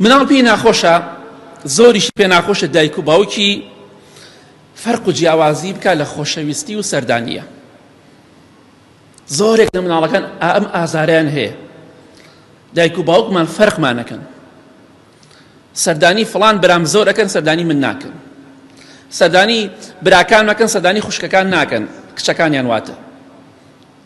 مناڵ پێی ناخۆشە زۆریش پێ ناخۆشە دایک و باوکی فەرق و جیاوازی بکە لە خۆشەویستی و سەردانیە زۆرێک لە مناڵەکان ئەم ئازاریان هەیە دایک و باوکمان فەرقمانەکەن سەردانی فلان برام زۆر ئەەکەن سەردانی من ناکەن سەردانی براکان ناکەن سەردانی خوشکەکان ناکەن کچەکانیان واتە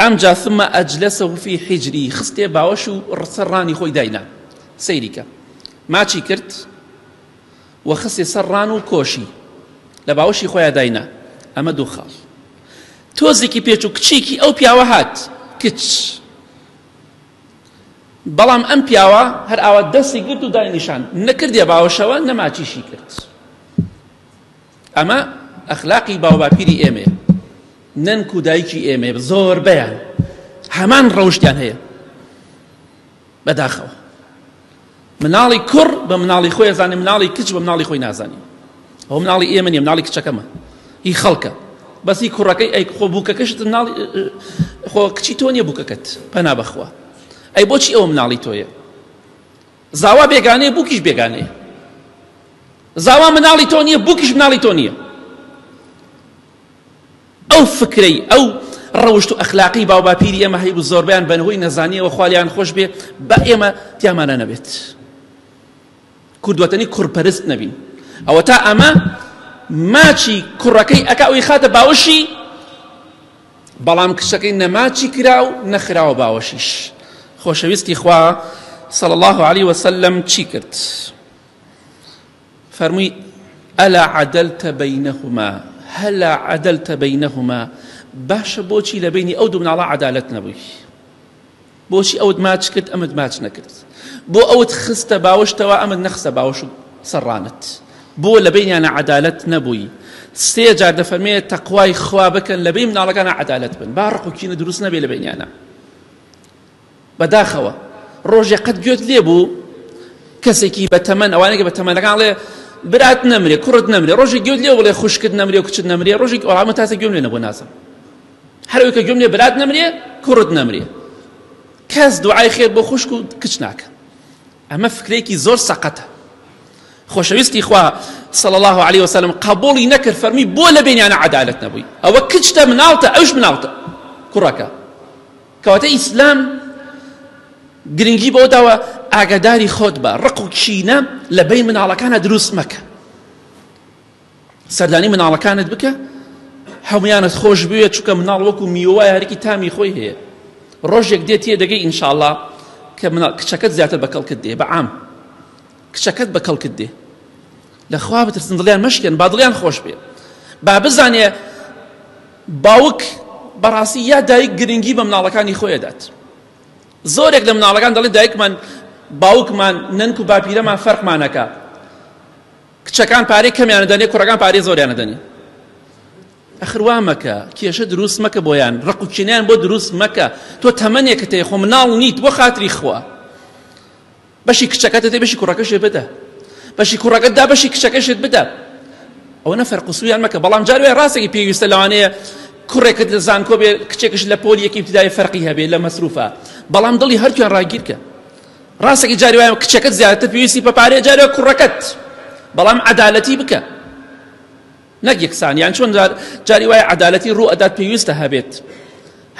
ئەمجا ثم اجلسه فی حجری خستێ باوەش و سەر ڕانی خۆی داینا سەیری کە ماچی کرد و خستێ سەر ڕان و کۆشی لە باوەشی خۆیان داینا ئەمە دوو خاڵ تۆزێکی پێچ و کچێکی ئەو پیاوە هات کچ بەڵام ئەم پیاوە هەر ئاوا دەستی گرت و دای نیشان نەکردێ باوەشەوە نەماچیشی کرد ئەمە ئەخلاقی باوباپیری ئێمەیە نەنک و دایکی ئێمە زۆربەیان هەمان ڕەوشتیان هەیە بەداخەوە مناڵی کوڕ بە مناڵی خۆی زانانی مناڵی کچ بە مناڵی خۆی نازانی ئەو مناڵی ئێمە نیە مناڵی کچەکەمە هی خەڵکە بەسی کوڕەکەی ئەی خۆ بووکەکەشت مناڵی خۆ کچی تۆ نیە بووکەکەت پەنا بەخوا ئەی بۆچی ئەو مناڵی تۆیە زاوا بێگانەیە بوکیش بێگانەیە زاوا مناڵی تۆ نییە بوکیش مناڵی تۆ نییە ئەو فکرەی ئەو ڕەوشت و ئەخلاقی باوباپیری ئێمە هەیبوو زۆربیان بەنهۆی نەزانیەوە خالیان خۆش بێ بە ئێمە تیامانە نەبێت کوردوەتەنی کوڕپەرست نەبین ئەوە تا ئەمە ماچی کوڕەکەی ئەکا ئەوی خاتە باوشی بەڵام کچەکەی نەماچی کرا و نەخراوە باوەشیش خۆشەویستی خوا صلی الله عليه وسلم چی کرد فەرمووی ئەلا عدلت بینهما هەلا عدلت بینهما باشە بۆچی لە بینی ئەو دوو مناڵە عەدالەت نەبووی بۆچی ئەوت ماچ کرد ئەمت ماچ نەکرد بۆ ئەوت خستە باوەشتەوە ئەمت نەخستە باوەش و سەڕانت بۆ لە بینیانە عەدالەت نەبووی سێ جار دەفەرمێ تەقوای خوا بکەن لە بین مناڵەکانە عەدالەت بن با ڕق و کینە دروست نەبێ لە بینیانە بەداخەوە ڕۆژێ قەت گوێت لێ بوو کەسێکی بە تەمەن ئەوانێکە بە تەمەنەکان ڵێ برات نەمرێ کوڕت نەمرێ ڕۆژی گوێت لێ بڵێ خوشکت نەمرێ و کچت نەمرێ ڕۆژی ئەڵامە تاسە گوێم لێ نەبوو نازم هەر ئەوەی کە گوێم لێ برات نەمرێ کوڕت نەمرێ کەس دوعای خێر بۆ خوشک و کچ ناکەن ئەمە فکرێکی زۆر سەقەتە خۆشەویستی خوا صلى الله عليه وسلم قبولی نەکرد فەرمی بۆ لە بینیانە عدالت نەبووی ئەوە کچتە مناڵتە ئەوش مناڵتە کوڕەکە کەواتە ئیسلام گرنگی بۆ داوە ئاگاداری خۆت بە ڕق و کینە لە بین مناڵەکانە دروست مەکە سەردانی مناڵەکانت بکە هەمویانت خۆش بوێت چونکە مناڵ وەکو میوە هەرکی تامی خۆی هەیە ڕۆژێک دێت تێ دەگەی ئینشاءڵا کە مناڵ کچەکەت زیاتر بە کەڵکت دێ بە عام کچەکەت بە کەڵکت دێ لەخوا بترسن دڵیان مەشکێن با دڵیان خۆش بێ با بزانێ باوک بەڕاستی یا دایک گرنگی بە مناڵەکانی خۆی دەدات زۆرێک لە مناڵەکان دەڵێ دایکمان باوکمان نەنک و باپیرەمان فەرقمانەکە کچەکان پارەی کەمیان ئەدەنێ کوڕەکان پارەی زۆریان ئەدەنێ ئەخر وا مەکە کێشە دروست مەکە بۆیان ڕق و کینیان بۆ دروست مەکە تۆ تەمەنێکە تێ خۆ مناڵ نیت بۆ خاتری خوا بەشی کچەکەتە دێ بەشی کوڕەکەشێ بدە بەشی کوڕەکەتدا بەشی کچەکەشت بدە ئەوە نە فەرقسویان مەکە بەڵام جاروێ ڕاستێکی پێویستە لەوانەیە کوڕێکت لە زانکۆ بێ کچێکش لە پۆلی یەکی ابتدای فەرقی هەبێ لە مەسروفە بەڵام دڵی هەرتویان ڕاگیرکە ڕاستەکەی جاری وایە کچەکەت زیاتر پێویستی بە پارەیە جاری وایە کوڕەکەت بەڵام عەدالەتی بکە نەک یەکسان یان چۆن جاری وایە عەدالەتی ڕوو ئەدات پێویستە هەبێت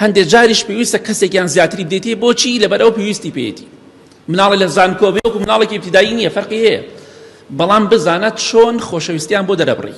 هەندێک جاریش پێویستە کەسێکیان زیاتری بدەیتێ بۆچی لەبەرەوە پێویستی پێێتی مناڵی لە زانکۆ بێ وەکو مناڵێکی ابتدایی نییە فەرقی هەیە بەڵام بزانە چۆن خۆشەویستیان بۆ دەرەبڕی